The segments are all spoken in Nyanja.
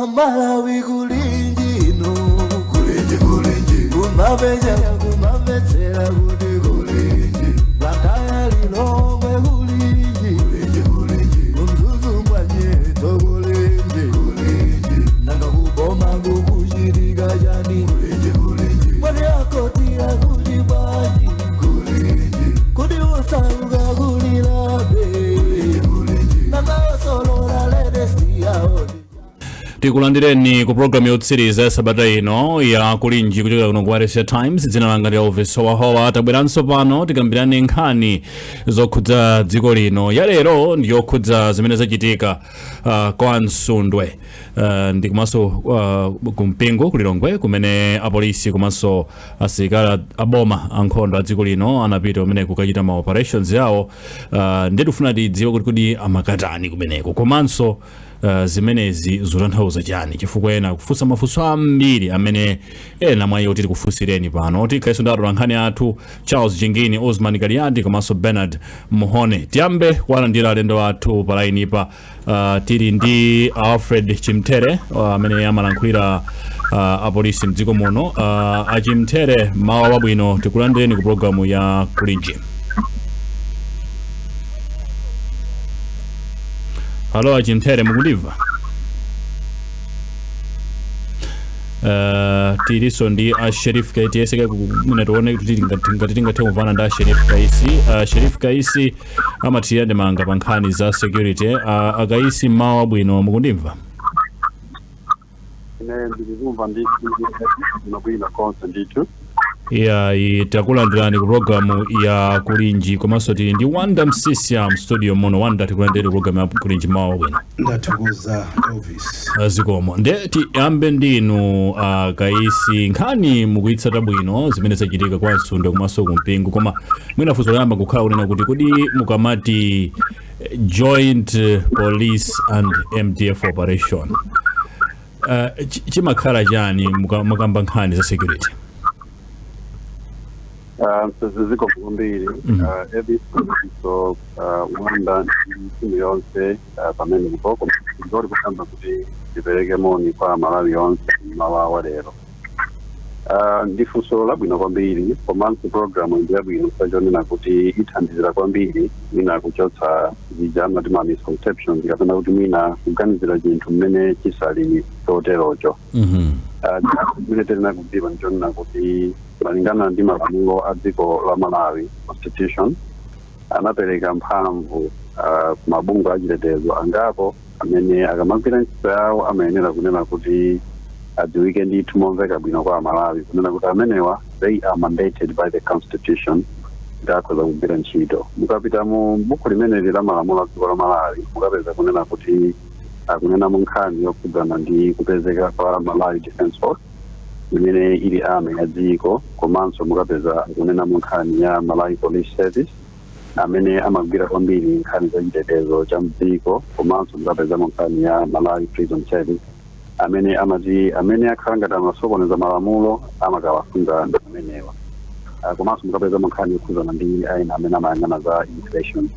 amalawi kulindino kulinji kulinji kumabeja kumabetsera kuti kulinji blantyre lilongwe kulinji kulinji kulinji kumzuzu ngwa nyeto kulinji tikulandireni ku programu yotsiriza ya sabata ino ya kulinji kuchokera kuno ku wailesi ya times dzina langa ndi elvis howahowa tabweranso pano tikambirane nkhani zokhudza dziko lino ya lero ndi yokhudza zimene zachitika uh, kwa msundwe uh, ndi komanso uh, kumpingo kulilongwe kumene apolisi komanso asilikali aboma ankhondo a dziko lino anapita kumene kukachita ma operations yawo uh, ndiye tifuna tidziwe kuti kodi amakatani kumeneko komanso uh, zimenezi zotanthauza chani chifukwa ena akufunsa mafunso ambiri amene ena mwa iwo titi tikufunsireni pano tikhalenso ndi atolankhani athu charles jingini osman kaliati komanso bernard mhone tiyambe kuwalandira alendo athu pa lainipa uh, tili ndi alfred chimthere uh, amene amalankhulira uh, apolisi mdziko muno uh, achimthere mmawa wabwino tikulandireni ku programu ya kulinji halo achimthere mukundimva Uh, tilinso ndi a Sherif Kaisi tiyese kaye kumene tione kuti tingati- ngati tingathe kumvana ndi a Sherif Kaisi uh, Sherif Kaisi amathirira ndemanga pa nkhani za security uh, akaisi mmawa wabwino mukundimva ine ndilikumva ndithu ndinobwino konse ndithu iyayi takulandirani ku programu ya kulinji komanso tili ndi wonder msiska mstudio muno wonder tikulandireni ku programu ya kulinji mmawa wabwino ndathokoza elvis zikomo nde tiyambe ndinu uh, kaisi nkhani mukuyitsata bwino zimene zachitika kwa msundwe komanso kumpingo koma mwina funso loyamba kukhala kunena kuti kodi mukamati eh, joint eh, police and mdf operation Ah, chi- chimakhala chani muka- mukamba nkhani za security Ah, zikomo kwambiri Mhm. Ah, Elvis so ah, Wonder ndi timu yonse ah, pamenepo koma ndori kutamba kuti tipereke moni kwa malawi yonse mmawa wa lero Uh, ndi funso labwino kwambiri komanso programu ndi yabwino pochonena kuti ithandizira kwambiri mwina kuchotsa zija amati ma misconceptions kapena kuti mwina kuganizira chinthu mmene chisali choterocho Mhm. chimene tiyenera kudziwa ndichonena kuti malingana ndi malamulo a dziko la malawi constitution anapereka mphamvu ah, ku mabungwe achitetezo angapo amene akamagwira ntchito yawo amayenera kunena kuti adziwike ndithu momveka bwino kwa amalawi kunena kuti amenewa they are mandated by the constitution kuti akhoza kugwira ntchito mukapita mu buku limeneli la malamulo a dziko la malawi mukapeza kunena kuti akunenamo nkhani yokhudzana ndi kupezeka kwa malawi defense force imene ili army ya dziko komanso mukapeza akunenamo nkhani ya malawi police service amene amagwira kwambiri nkhani za chitetezo cha mdziko komanso mukapezamo nkhani ya malawi prison service amene amati amene akhala ngati amasokoneza malamulo amakawasunga amenewa Ah, komanso mukapezamo nkhani yokhuzana ndi aina amene amayang'ana za immigration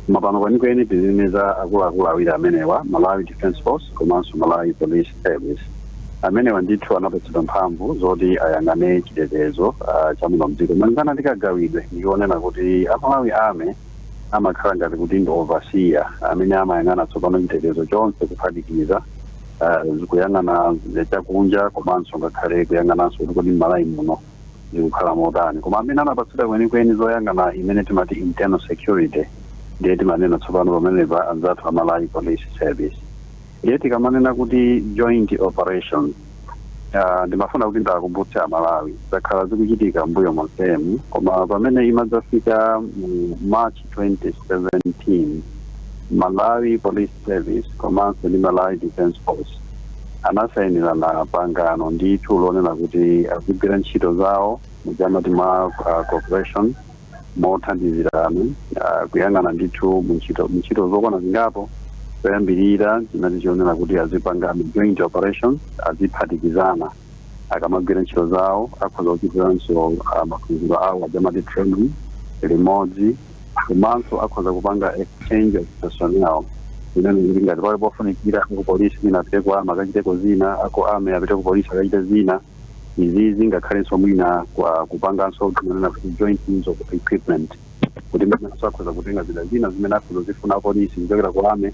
koma pano kwenikweni tizinena za akuluakulu awiri amenewa malawi defense force komanso malawi police Service. Amenewa ndithu anapatsidwa mphamvu zoti ayang'ane chitetezo ah, cha muno mdziko. Malingana ndi kagawidwe ndi konena kuti a Malawi Army amakhala ngati kuti ndi overseer amene amayang'ana tsopano chitetezo chonse kuphatikiza ah, kuyang'ana chakunja komanso ngakhale kuyang'ananso kuti kodi m'Malawi muno zikukhala motani koma amene anapatsidwa kwenikweni zoyang'ana imene timati internal security ndiye timanena tsopano pamenepa anzathu a Malawi Police Service Ndiye tikamanena kuti joint operations, ah, ndimafuna kuti ndiwakumbutse Amalawi, zakhala zikuchitika m'mbuyo monsemu, koma pamene imadzafika mu March 2017, Malawi Police Service komanso ndi Malawi Defence Force anasayinirana pangano ndithu lonena kuti azigwira ntchito zawo muja amati mwa ah, cooperation mothandizirana ah, kuyang'ana ndithu muntchito muntchito zokwana zingapo choyambirira chinali chonena kuti azipanga joint operation aziphatikizana akamagwira ntchito zawo akhoza kuchitiranso ah, maphunziro awo ajamati training limodzi komanso akhoza kupanga exchange of personnel kunena kuti ngati pali pofunikira apolisi ena apite ku army akachiteko zina a ku army apite ku polisi akachite zina izi zingakhalenso mwina kwa kupanganso timanena kuti joint use of equipment kuti mwinanso akhoza kutenga zida zina zimene akhoza kuzifuna apolisi kuchokera ku army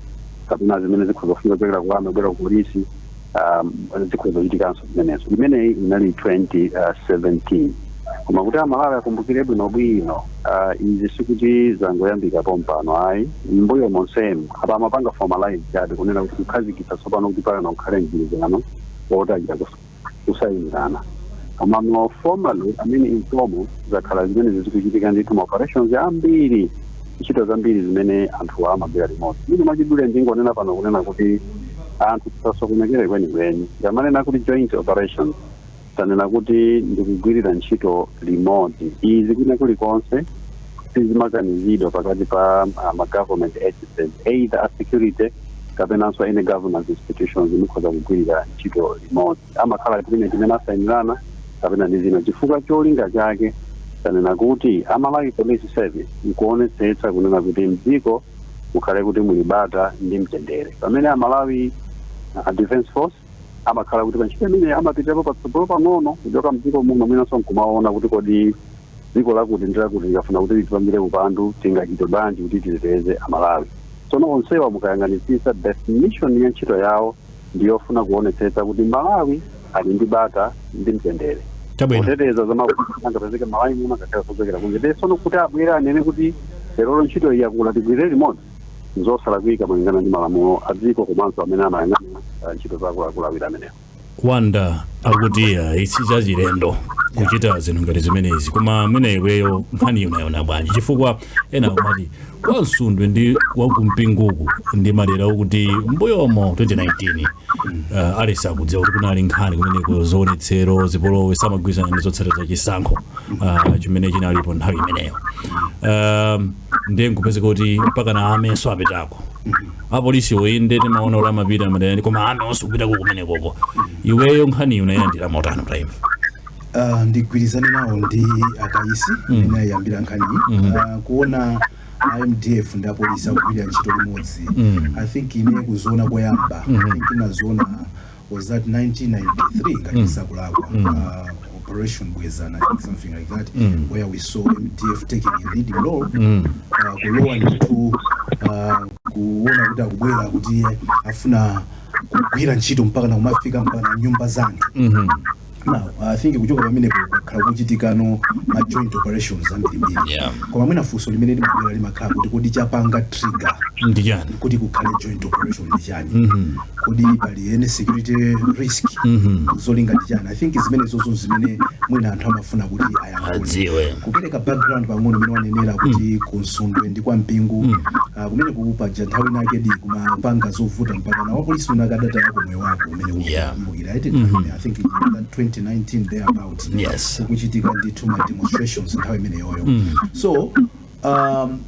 kapena zimene zikhoza kufunika kuchokera ku army kubwera ku polisi um, zikhoza kuchitikanso zimenezo imeneyi inali 2017 koma kuti amalawi akumbukire bwinobwino uh, izi sikuti zangoyambika pompano ayi mbuyo monsemu apa amapanga formalize chabe kunena kuti kukhazikitsa tsopano kuti pano ukhale mgwirizano wotachita kusayinzana komano formally I mean informal zakhala zimenezi zikuchitika ndithu ma operations ambiri ntchito zambiri zimene anthu amagwira limodzi ine mwachidule ndingonena pano kunena kuti anthu tisasokonekere kwenikweni akamanena kuti joint operations tanena kuti ndikugwirira ntchito limodzi izi kwina kulikonse sizimakanizidwa pakati pa uh, ma government agencies either a security kapenanso any governance institutions zikhoza kugwirira ntchito limodzi amakhala agreement imene asayinirana kapena ndi chinachina chifukwa cholinga chake tanena kuti a Malawi police service ikuonetsetsa kunena kuti mdziko mukhale kuti muli bata ndi mtendere pamene a Malawi uh, defense force amakhala kuti pa ntchito imeneyi amapitapo patsogolo pang'ono kuchoka mdziko muno mwinanso nkumaona kuti kodi dziko lakuti ndi lakuti likafuna kuti litipangire upandu tingachite bwanji kuti titeteze amalawi tsono onsewa mukayang'anitsitsa definition ya ntchito yawo ndi yofuna kuonetsetsa kuti malawi ali ndi bata ndi mtendere Chabwino. kuteteza za mavuto angapezeke malawi muno ngakhale kuchokera kunja tsono kuti abwere anene kuti lerolo ntchito iyi yakula tigwirire limodzi zosalakwika malingana ndi malamulo a dziko komanso amene amayang'anira ah, ntchito za akuluakulu awiri amenewa wanda akuti ayi si chachilendo kuchita zinthu ngati zimenezi koma mmene iweyo nkhaniyi unayiona bwanji chifukwa ena amati kwa msundwe ndi kwa Mpinguku ndi madera okuti mbuyomo 2019 uh, aliyense akudziwa kuti kunali nkhani kumeneko zionetsero zipolowe samagwirizana ndi zotsatira za chisankho uh, chimene chinalipo nthawi imeneyo um, ndiye nkupezeka kuti mpaka a army-nso apitako apolisi okha nde timaona kuti amapita madera ena koma a army-nso kupitako kumenekoko iweyo nkhaniyi unayilandira motani time Ah, ndigwirizane nawo ndi akaisi amene ayiyambira nkhaniyi Ah, kuona a mdf ndi apolisi akugwirira ntchito limodzi i think ine kuziona koyamba i think inaziona was that 1993 ngati mm. sindikulakwa mm. uh, operation Bwezani something like that mm. where we saw mdf taking a leading role mm. uh, kulowa ndithu uh, kuona kuti akubwera kuti afuna kugwira ntchito mpaka nakumafika m'ma nyumba za anthu mm -hmm. now i think kuchoka pamenepo kwakhala kukuchitikano ma joint operations ambirimbiri Yeah. koma mwina funso limene limabwera limakhala kuti kodi chapanga trigger ndi chani kuti kukhale joint operation ndi chani kodi pali any security risk zolinga ndi chani i think zimene zozo zimene mwina anthu amafuna kuti ayankule adziwe kupereka background pang'ono imene wanenera kuti kwa msundwe ndi kwa mpingu ah, kumene kupaja nthawi inayakedi kumapanga zovuta mpaka na wapolisi wina anakatayako moyo wake kumene uli- Yeah. uli- I think mm -hmm. I think in 2019 thereabouts yes. kukuchitika ndithu ma demonstrations nthawi imeneyoyo mm. so um,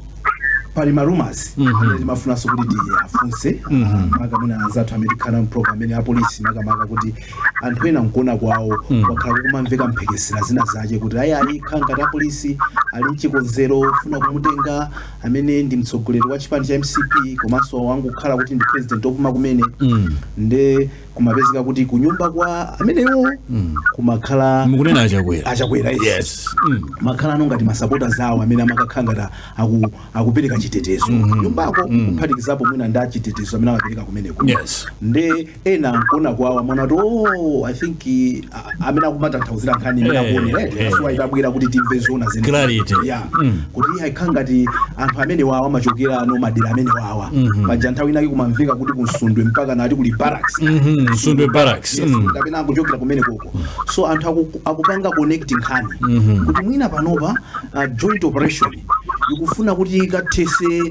pali ma rumours mm -hmm. amene timafunanso kuti tiafunse mm -hmm. uh, maka mwina anzathu amene tikhala m'program amene apolisi makamaka kuti anthu ena mkuona kwawo mm -hmm. wakhala kukumamveka mphekesera zina zake kuti ayi ayi khala ngati apolisi ali mchikonzero ofuna kumutenga amene ndi mtsogoleri wa chipani cha mcp komanso wangokhala kuti ndi president opuma kumene mm -hmm. nde kumapezeka kuti kunyumba kwa amenewo kumakhala mukunena achakwera achakwera yes kumakhala ano ngati masapota zawo amene amakakhala ngati aku, akupereka chitetezo nyumbako kuphatikizapo mwina ndi achitetezo amene amapereka kumeneko Yes. nde ena nkuona kwawo amaona kuti oh, i think eh, amene akumatanthauzira nkhani imene Eh, akuonera eh. eti yes itabwera kuti timve zona zene Clarity. ya kuti iye ayikhala ngati anthu amene wawa amachokera ano madera amene wawa paja nthawi inake kumamveka kuti kunsundwe mpaka anati kuli barracks Mhm, Nsundwe Barracks. Yes, Mm. kapena akuchokera kumene koko so anthu aku- akupanga connect nkhani kuti mwina panopa uh, joint operation ikufuna kuti ikathese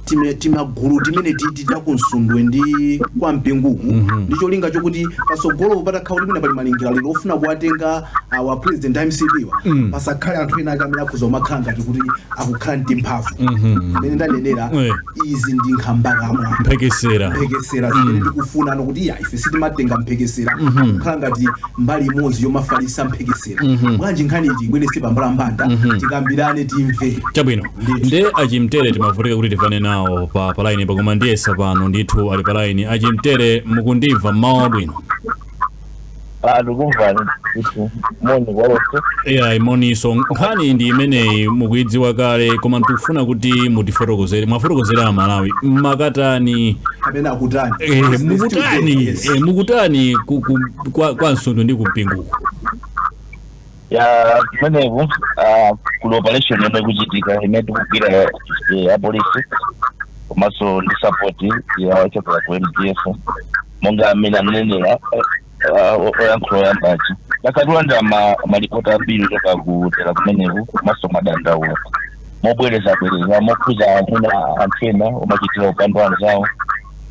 time timagulu timene titi takunsundwe ndi kwa mpinguku mm -hmm. ndi cholinga chokuti pasogolo patakhala kuti mwina pali malingaliro ofuna kuwatenga a president mcp wa mm. pasakhale anthu ena ake amene akhoza kumakhala ngati kuti akukhala ndi mphamvu mmene ndanenera Eh. izi ndi nkhambakamwa mphekesera mphekesera zimene tikufuna ano kuti ya ife sitimatenga mphekesera kukhala ngati mbali imodzi yomafalisa mphekesera Mzera mm -hmm. bwanji nkhani tiibweretse pambalambanda mm -hmm. tikambirane timve chabwino nde achimtere timavutika kuti timvane nawo pa laini pa koma ndiyesa pano ndithu ali pa laini achimtere mukundimva mmawa wabwino ndikukumvani moni kwalonse ya moninso nkhani ndi imeneyi mukuidziwa kale koma tikufuna kuti mutifotokozere muwafotokozere amalawi mmakatani kapena akutani eh, mukutani eh, mukutani ku- ku- kwa, kwa nsundwe ndi kumpinguku ya kumeneku ah, kuli operation yomwe ikuchitika imene tikugwira eh, apolisi komanso ndi support ya ochokera ku mdf monga amene ananenera eh, ah, o- oyankhula oyambachi takhala tikulandira malipoti ambiri kuchoka ku dera kumeneku komanso madandaulo mobwerezabwereza mokhuza amuna anthu ena omawachitira upandu anzawo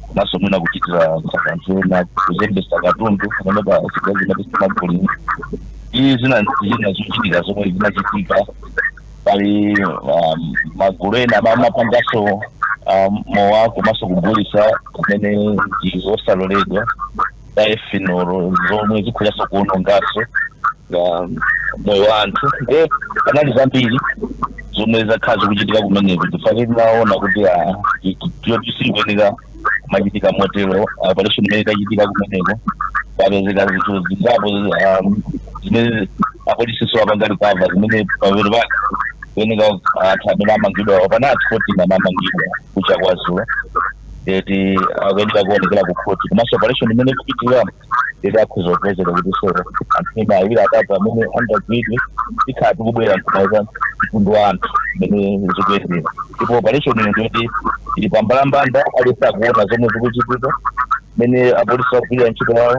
komanso mwina kuchitira anthu ena kuzembesa katundu pamene pa zida zina tisimagulini iye zina zina zochitika zomwe zinachitika pali um, magulu ena amene amapanganso um, mowa komanso kugulitsa kumene ndi kosaloledwa za ethanol zomwe zikhozaso kuonongaso moyo wa anthu nde panali zambiri zomwe zakhala zikuchitika kumeneko chifukwa tinaona kuti ah, ti- ti- ti- sizikuyenera kumachitika motero operation imene itachitika kumeneko papezeka zinthu zingapo ah, zimene apolisiso apanga recover zimene pamapeto pake kuyeneka anthu amene amangidwa pano ali 14 amene amangidwa kucha kwa dzulo eti akuyenera kuonekera ku khoti komanso operation imene ikupitiriramo eti akhoza kupezeka kuti so anthu ena awiri atatu amene angagwidwe tikhala tikubwera nkumauza mtundu wa anthu mmene zikuyendera ndipo operation iyi ndiyoti ili pambalambanda aliyense akuona zomwe zikuchitika mene apolisi akugwirira ntchito yawo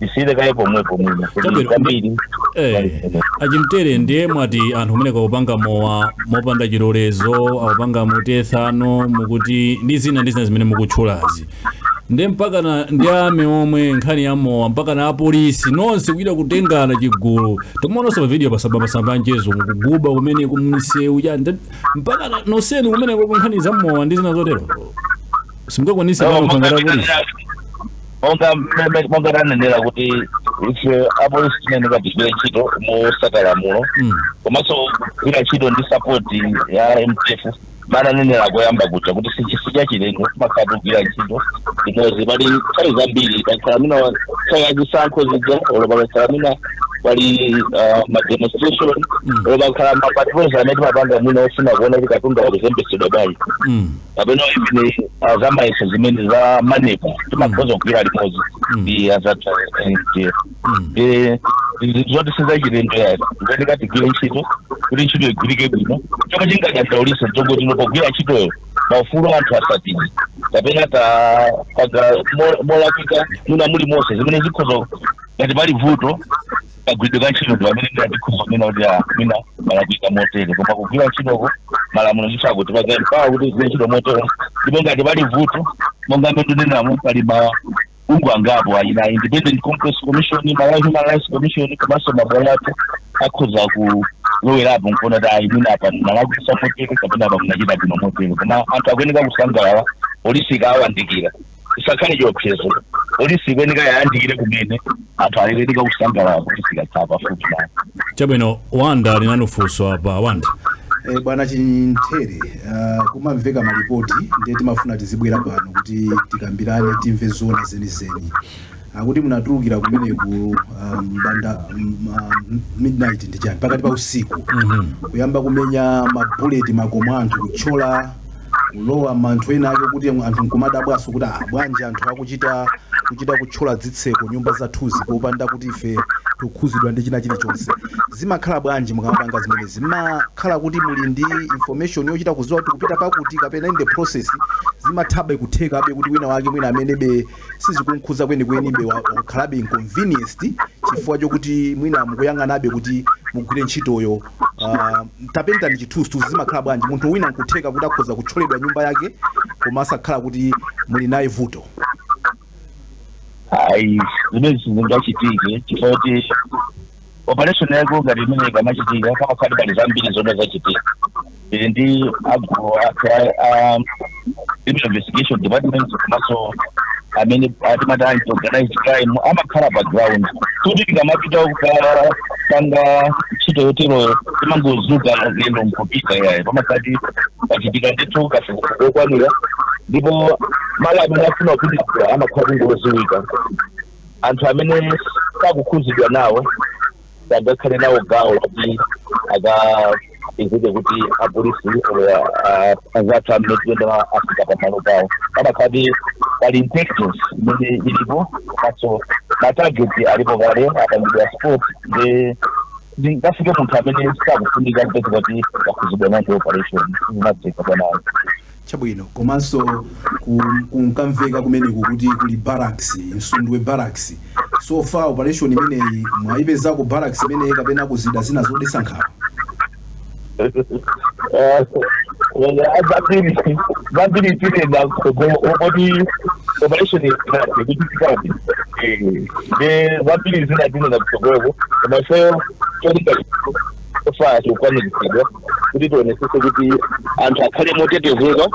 tisiyire kaye pomwepo mwina kuti Chabwino. kwambiri Eh, a Chimtere ndiye mwati anthu kumene akupanga mowa mopanda chilolezo akupanga mu ethanol mukuti ndi zina ndi zina zimene mukutchulazi nde mpakana ndi ame- omwe nkhani ya mowa mpakana apolisi nonse kuchita kutengana chigulu timaonanso pavidiyo pamasamba anchezo mukuguba kumene kumsewu chani Nde mpakana nonsenu kumene kwa nkhani za mowa ndi zina zotero simungakwanitse pano kuthangata apolisi monga mmene monga tanenera kuti ife apolisi tinayenera tigwire ntchito mosata malamulo Mm. komanso kugwira ntchito ndi sapoti ya MDF mmene ndanenera koyamba kuja kuti sichinthu chachilendo timakhala tikugwira ntchito limodzi pali nthawi zambiri pakakhala mwina nthawi yazisankho zija olo pakakhala mwina pali ah, mademonstration Mm. olo pakakhala mapatrols amene timapanga mwina ofuna kuona kuti katundu akuzembetsedwa bwanji Mm. kapena imene ya zamayeso zimene za MANEB timakhoza kugwira limodzi Mm. ndi azathu a MDF Mm. Eh, zinthu zoti sizachilendo yayi tikuyeneka tigwire ntchito kuti ntchito igwirike bwino chomwe chingadandaulisa nchoti tinapogwira ntchitoyo maufulu a anthu asatidwe kapena ta- panga mo- molakwika mwina mulimonse zimene zikhoza ngati pali vuto kagwiridwe ka ntchito ndipamene mwina tikhoza kunena kuti ah, mwina mwalakwitsa motere koma kugwira ntchitoko malamulo ndithu akutipatsa mpata kuti tigwire ntchito motere ndipo ngati pali vuto monga mmene tinenamo pali mabungwe angapo kaya independent complaints commission malawi human rights commission komanso mabwalo athu akhoza kulowerapo nkuona kuti ayi mwina apa mwalakwisa motere kapena apa munachita bwino motere koma anthu akuyenera kusangalala polisi ikawayandikira isakhale chiopsezo polisi ikuyeneka ikayandikire kumene anthu akuyeneka kusangalala polisi ikakhala pafupi nawo chabwino wanda ali nanu funso apa wanda Eh, bwana Chimtere uh, kumamveka malipoti ndiye timafuna tizibwera pano kuti tikambirane timve zona zenizeni akuti munatulukira kumene ku ah, mbanda midnight ndi chani pakati pa usiku kuyamba kumenya mabuleti makomo anthu kutchola kulowa anthu ena ake kuti anthu nkumadabwaso kuti ah, bwanji anthu akuchita kuchita kutchola zitseko nyumba zathuzi popanda kuti ife tikhuzidwa ndi china chilichonse zimakhala bwanji mukamapanga zimenezi zimakhala kuti muli ndi information yochita kuziwa kuti kupita pakuti kapena in the process zimathabe kuthekabe kuti wina wake mwina amenebe sizikumkhudza kwenikwenibe wakhalabe inconvenienced chifukwa chokuti mwina mukuyang'anabe kuti mugwire ntchitoyo. Uh, tapentani chithunzithunzi zimakhala bwanji munthu wina nkutheka kuti akhoza kutcholedwa nyumba yake koma asakhala kuti muli naye vuto ayi zimenezo sizingachitike chifukwa kuti operation yaikulu ngati imeneyi ikamachitika pamakhala pali zambiri zomwe zachitika tili ndi a gulu athu a- a criminal investigation department komanso amene atimati anti organized crime amakhala pa ground kuti tikamapita kupanga ntchito yoteroyo sitimangozuka lero nkupita yayi pamakhala kuti pachitika ndithu kafukufuku wokwanira ndipo malo amene afuna kupititsa amakhala kuti ngoziwika anthu amene sakukhuzidwa nawo sangakhale nawo gawo kuti akapezeke kuti apolisi anzathu amene tiyendera afika pamalo pawo pamakhala kuti pali intelligence imene ilipo komaso matageti alipo kale apangidwa spot nde tikafike kwa munthu amene sakufunika kupezeka kuti akhuzidwa nawo ndi operation sizimatheka bwana ayi Chabwino. Komanso ku, kunkamveka kumeneku kuti kuli barracks, Msundwe Barracks. So far operation imeneyi mwaipezako barracks imeneyi kapena ku zida zina zodetsa nkhawa? Eh, eh, zambiri zambiri tinena kuti operation ikuchitikadi zambiri zina tinena kutsogoloko koma ifeyo cholinga so far chikukwaniritsidwa kuti tionetsetse kuti anthu akhale motetezeka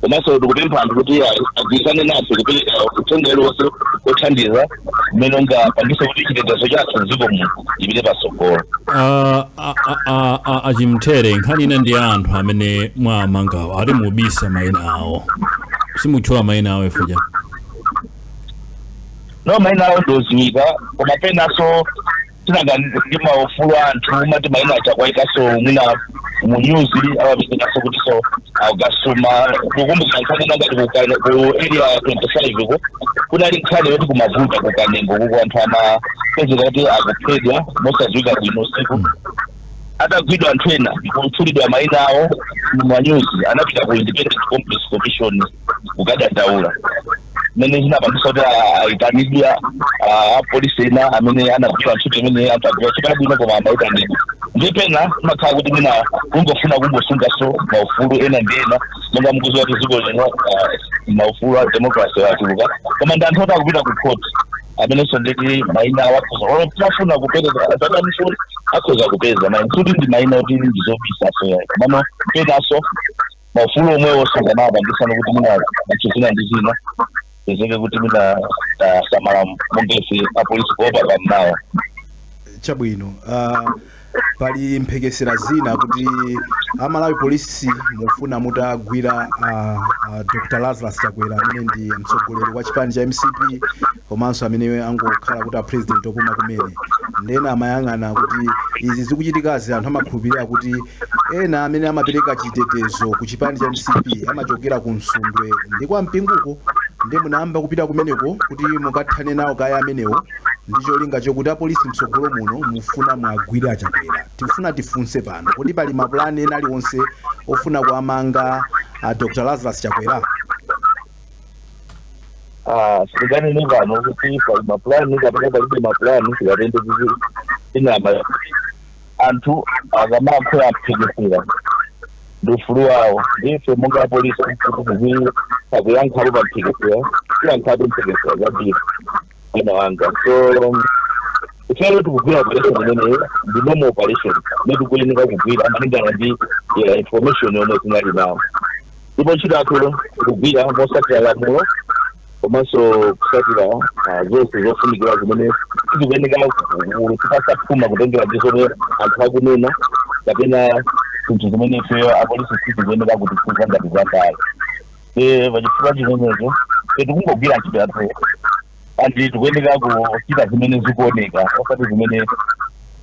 komanso tikupempha anthu kuti agwirizane nafe kupereka uthenga uliwonse othandiza umene ungapangitse kuti chitetezo chathu m'dziko muno chipite patsogolo Ah, ah, ah, ah, ah, a Chimchere nkhani ina ndi ya anthu amene mwamangawo ati mubisa mayina awo simutchula mayina awo chifukwa no mayina awo ndiwoziwika koma penanso timaganizira maufulu a anthu umati maina awaikanso mwina mu news amapezekanso kuti akasuma mukumbukira nkhani ina ngati ku Kane- ku area ya 25 ko kunali nkhani yoti kumavuta ku kanengo kuko anthu amapezeka kuti akuphedwa mosadziwika bwino usiku atagwidwa anthu ena kutchulidwa maina awo mu manyuzi anapita ku independent complaints commission kukadandaula mene zinapangisa kuti aitanidwa apolisi ena amene anagwira ntchito zimene ankagwira ntchito yabwino koma amaitanidwa nde pena mmakhala kuti mwina kungofuna kungosungaso maufulu ena ndi ena monga mukuziwa kuti dziko lino ah, maufulu a democracy achuluka koma ndi anthu oti akupita ku court amenenso nditi maina awo akhoza olo titafuna kupereka atawafuna akhoza kupeza ma including ndi maina oti ndi zobisaso komano penaso maufulu omwewo sanganawapangisa kuti mwina zinthu zina ndi zina zizeke kuti mwina tasamala mongefe apolisi kuopa pammawa chabwino uh, pali mphekesera zina kuti amalawi polisi mufuna mutagwira uh, uh, dr lazarus chakwera amene ndi mtsogoleri wa chipani cha mcp komanso amene angokhala kuti apresident opuma kumene nde ena amayang'ana kuti izi zikuchitikazi anthu amakhulupirira kuti Ena amene amapereka chitetezo ku chipani cha mcp amachokera ku Msundwe ndi kwa Mpinguko nde munayamba kupita kumeneko kuti mukathane nawo kaye amenewo ndi cholinga chokuti apolisi mtsogolo muno mufuna muwagwire a Chakwera. Tikufuna tifunse pano kuti pali mapulani ena aliwonse ofuna kuwamanga a Dr Lazarus Chakwera? Ah, sitinganene pano kuti pali mapulani kapena palibe mapulani tikatende kuti tinama anthu akamalankhula za mphekesera ndi ufulu wawo ndife monga apolisi kuti tiziyankhapo pa mphekesera tiyankhapo mphekesera zambiri mnzanga so ifeyo tikugwira operation imeneyo ndi normal operation nde tikuyeneka kugwira malingana ndi information yomwe tinali nawo ndipo ntchito yathu tikugwira mosatira lamulo komanso kusatira ah, zonse zofunikira zimene tikuyeneka kugwira tisapupulume kutengera ndi zomwe anthu akunena kapena zinthu zimene ifeyo apolisi sizikuyeneka kutikhuza ngati za ndale nde pachifukwa chimenecho ife tikungogwira ntchito yathu andi tikuyeneka kuchita zimene zikuoneka osati zimene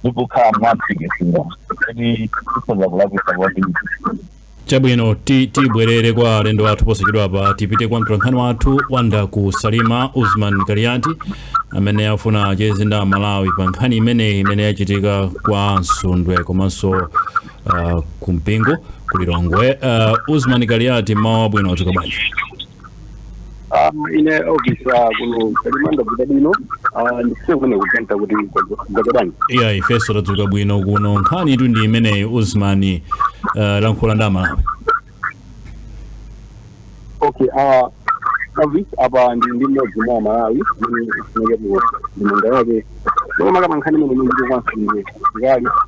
zikukhala mwamphekesera kuti tikhoza kulakwisa kwambiri Chabwino, ti tibwerere kwa alendo athu posachedwapa. Tipite kwa mtolankhani wathu wa dera ku Salima, Usman Kaliati, amene afuna acheze ndi Amalawi pa nkhani imeneyi imene yachitika kwa Msundwe komanso uh, kwa Mpingu ku Lilongwe. Uh, Usman Kaliati, mmawa wabwino, mwadzuka bwanji? Ah, ine office ah, kuno ku Salima ndadzuka bwino ah, ndifuna kumene kuganta kuti zakadani iya ifeso tadzuka bwino kuno nkhanitu ndi imeneyi usman uh, lankhula ndi amalawi okay ah, office apa ndili ndi mmodzi mwa amalawi amene ifunike mu ndemanga yake koma kama nkhani imene ndikukansiye zikali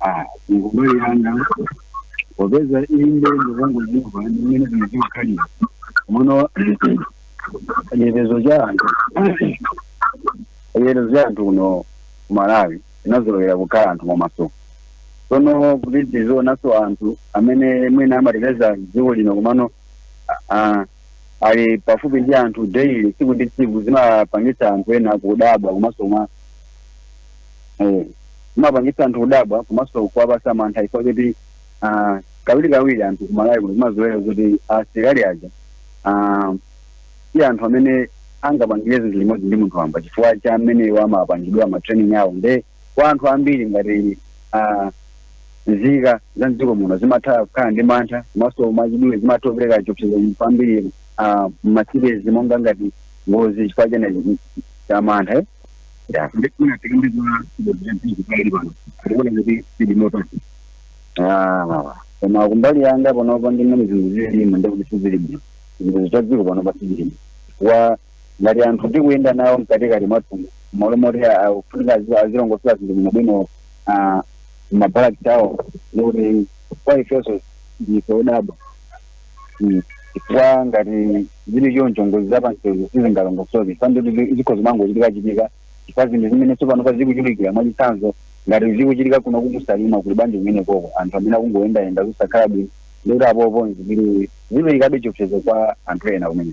Ah, kumbali yanga popeza inde ndikungozimva ndi mmene zinthu zimakhalira muno chitetezo cha anthu chitetezo cha anthu kuno ku malawi inazolowera kukhala anthu mwamaso tsono kuti tizionanso anthu amene mwina amateteza dziko lino komano ah, ali pafupi ndi anthu daily tsiku ndi tsiku zimapangitsa anthu ena kudabwa komanso mwa Eh, zimapangitsa anthu kudabwa komanso kuwapatsa mantha chifukwa choti ah, kawirikawiri anthu kumalawi kuno tinazolowera kuti asilikali aja ah, si anthu amene angapangire zinthu limodzi ndi munthu wamba chifukwa cha mmene iwo amapangidwa matraining awo nde kwa anthu ambiri ngati ah, nzika za mdziko muno zimatha kukhala ndi mantha komanso mwachidule zimatha kupereka chiopsezo kwambiri ah, m'masitezi monga ngati ngozi chifukwa cha mantha eh? ndifuna tikambidwa zinthu pali pano atikuona kuti tili motani Ah, koma kumbali yanga panopa ndi mmene zinthu zililimu ndi kuti sizili bwino zinthu za dziko panopa sizilimo chifukwa ngati anthu tikuyenda nawo mkatikati mwathu malo moti akufunika azilongosola zinthu bwino bwino ah, mabalaki awo ndikuti kwa ifenso ndife odabwa Mm. chifukwa ngati zili choncho ngozi za pansewu sizingalongosoke m'pang'ono kuti zikhoza kumangochitika chitika chifukwa zinthu zimene tsopano pa zikuchitikira mwachitsanzo ngati zikuchitika kuno ku Salima kuli bwanji kumeneko anthu amene akungoyendayenda zisakhala bwino ndikuti apopo ziziperekabe chiopsezo kwa anthu ena kumene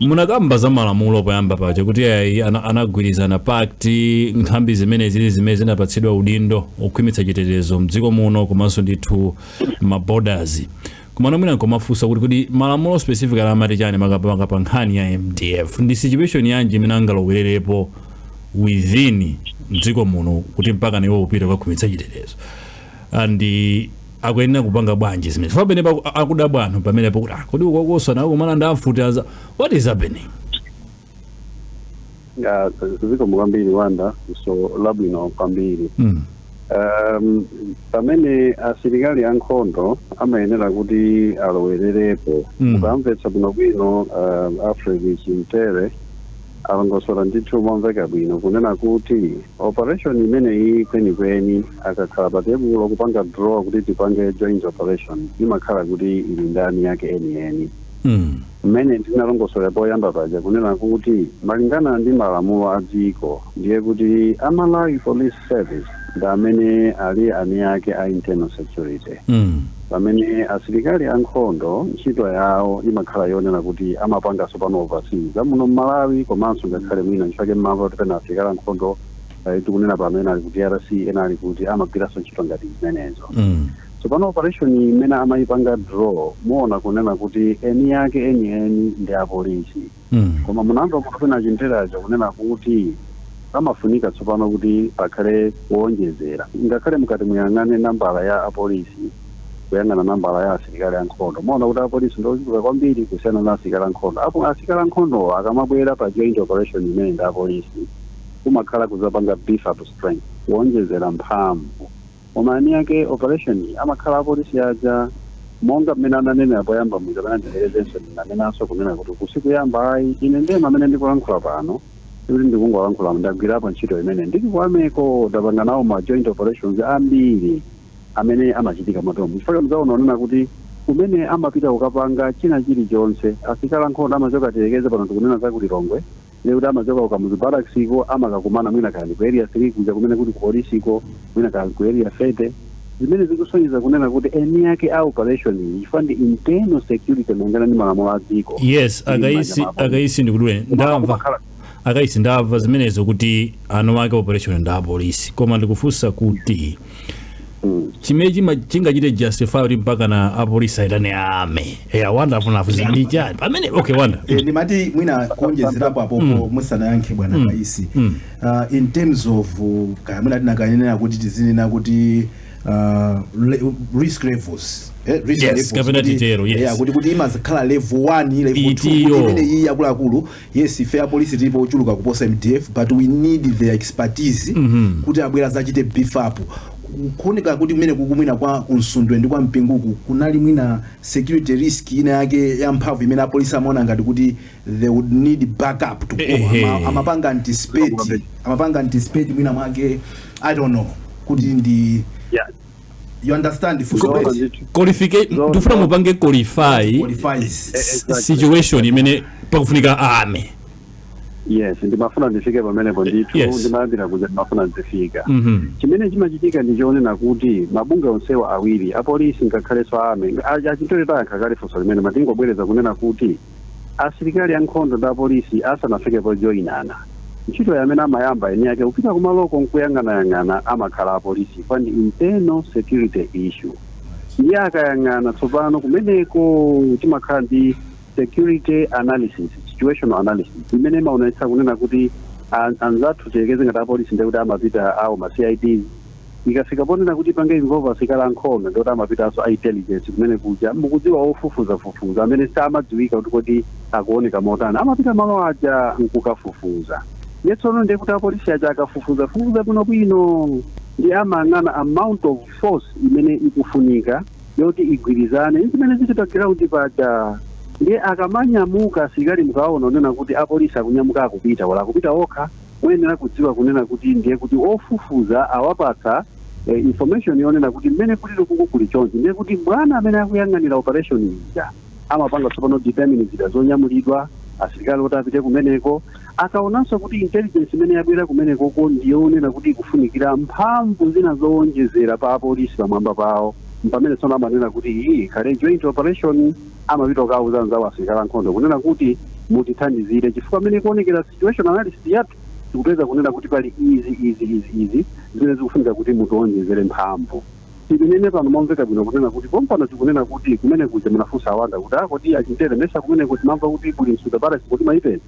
Munakamba za malamulo poyamba paja kuti ayi ana- anagwirizana pact nthambi zimene zili zimene zinapatsidwa udindo okhwimitsa chitetezo mdziko muno komanso ndithu ma borders komano mwina nkomafunsa kuti kuti malamulo specific ali amati chani makamaka pa nkhani ya mdf ndi situation yanji imene angalowererepo within mdziko muno kuti mpaka nawo apite kukakhwimitsa chitetezo and akuyenera kupanga bwanji zimene chifukwa pamene paku- akudabwa anthu pamene pakuti ah, kodi ukukosa nawo kukumana ndi a mfuti what is happening ya zikomo kwambiri wanda funso labwino kwambiri mm. um, pamene asilikali ankhondo amayenera kuti alowererepo Mm. mukamvetsa bwinobwino um, alfred chintere Alongosola ndithu momveka bwino kunena kuti operation imeneyi kwenikweni akakhala pa tebulo kupanga draw kuti tipange joint operation imakhala kuti ili ndi eni ake enieni. Mmene ndinalongosolera poyamba paja kunena kuti malingana ndi malamulo a dziko ndiye kuti a Malawi Police Service ndi amene ali eni ake a internal security. Pamene asilikali a nkhondo ntchito yawo imakhala yoona kuti amapanga sopano oversee za muno m'Malawi komanso ngakhale mwina nchifake mmamva kuti pena asilikali a nkhondo eh, tikunena pano ena ali ku DRC ena ali kuti amagwiranso ntchito ngati zimenezo Mm. tsopano operation imene amayipanga draw muona kunena kuti eni yake eni eni ndi apolisi mm. koma mumamva kuti pena chinterocho kunena kuti pamafunika tsopano kuti pakhale kuwonjezera ngakhale mutati muyang'ane nambala ya apolisi kuyang'ana nambala ya asilikali ankhondo muona kuti apolisi ndi ochuluka kwambiri kusiyana na asilikali ankhondo apo asilikali ankhondowo akamabwera pa joint operation imene ndi apolisi kumakhala kuzapanga beef up strength kuwonjezera mphamvu Koma eni ake operation yi amakhala apolisi aja. Monga mmene ananenera poyamba muja pena ndibwerezenso ndinanenanso kunena kuti uku sikuyamba ayi. Ine ndemwe amene ndikulankhula pano sikuti ndikungolankhula ndagwirapo ntchito imeneyi. Ndili ku army ko ndapanga nawo ma joint operations ambiri amene amachitika moteromo. Chifukwa chake mudzaona onena kuti kumene amapita kukapanga china chilichonse asilikali ankhondo amachoka tiyerekeze pano tikunena za ku Lilongwe. ndiye kuti amachoka ku Kamuzu Barracks ko amakakumana mwina kaya ndi ku Area 3 kuja kumene kuli ku Polisi ko, mwina kaya ku Area 30. Zimene zikusonyeza kunena kuti eni ake a operation iyi chifukwa ndi internal security malingana ndi malamulo a dziko. Yes, ili m'manja a Kaisi mwa apolisi. a Kaisi ndikudule Koma ndamva kumakhala a Kaisi ndamva zimenezo kuti eni ake operation ndi apolisi koma ndikufunsa kuti chimene chima- chingachite justify kuti mpakana apolisi aitane army eya Wanda amafuna kufunsa ndi chani pamene okay Wanda Eh, ndimati mwina kuonjezerapo apopo musanayankhe bwana Kaisi uh, in terms of uh, kaya mwina tinakanenera kuti tizinena kuti uh, le, risk levels eh, risk Yes, levels, kapena kuti- titero, yes. yeah, kuti kuti imazikhala level 1 level 2 Itiyo. kuti imene iyi yakuluakulu Yes ife apolisi tilipo ochuluka kuposa mdf but we need their expertise mm -hmm. kuti abwere azachite beef up kuoneka kuti kumene uku mwina kwa Msundwe ndi kwa Mpingu ku kunali mwina security risk ina yake ya mphamvu imene apolisi amaona ngati kuti they would need backup to go Ama, amapanga anticipate amapanga anticipate mwina mwake i don't know kuti ndi yeah. you understand for Zoona that ndithu. qualification Zoona, ndikufuna zoona. mupange qualify qualifies exactly. situation imene pakufunika army yes ndimafuna ndifike pamenepo ndithu Yes. ndimayambira kuja ndimafuna ndifike Mhm. chimene chimachitika ndi chonena kuti mabungwe onsewa awiri apolisi ngakhalenso army achitoyo tayankha kale funso limene matingobwereza kunena kuti asilikali ankhondo ndi apolisi asanafike pojoinana. Ntchitoyi amene amayamba eni ake kupita kumaloko n'kuyang'anayang'ana amakhala apolisi chifukwa ndi internal security issue. Ndiye akayang'ana tsopano kumeneko timakhala ndi security analysis, situational analysis imene imaonetsa kunena kuti an- anzathu tiyerekeze ngati apolisi ndiye kuti amapita awo ma CIDs Ikafika ponena kuti ipange involve asilikali a nkhondo ndiye kuti amapitanso a intelligence kumene kuja mukudziwa ofufuzafufuza amene samadziwika kuti kodi akuoneka motani amapita malo aja nkukafufuza ndiye tsono ndiye kuti apolisi aja akafufuzafufuza bwinobwino ndiye amayang'ana amount of force imene ikufunika yoti igwirizane ndi zimene zili pa ground paja ndiye akamanyamuka asilikali mukaona kunena kuti apolisi akunyamuka akupita olo akupita okha Muyenera kudziwa kunena kuti ndiye kuti ofufuza awapatsa eh, information yonena kuti mmene kulili kuku kuli chonchi ndiye kuti bwana amene akuyang'anira operation ija amapanga tsopano determine zida zonyamulidwa asilikali oti apite kumeneko akaonanso kuti intelligence imene yabwera kumenekoko ndiyonena kuti ikufunikira mphamvu zina zowonjezera pa apolisi pamwamba pawo mpamene tsono amanena kuti iyi ikhale joint operation amapita kukauza anzawo asilikali ankhondo kunena kuti mutithandizire chifukwa mmene ikuonekera situation analysis yathu tikupeza kunena kuti pali izi izi izi izi zimene zikufunika kuti mutiwonjezere mphamvu tinene pano momveka bwino kunena kuti pompano tikunena kuti kumene kuja munafunsa a Wanda kuti kodi a Chimthere mesa kumene kuti mamva kuti kuli Msundwe Barracks kodi mwaipeza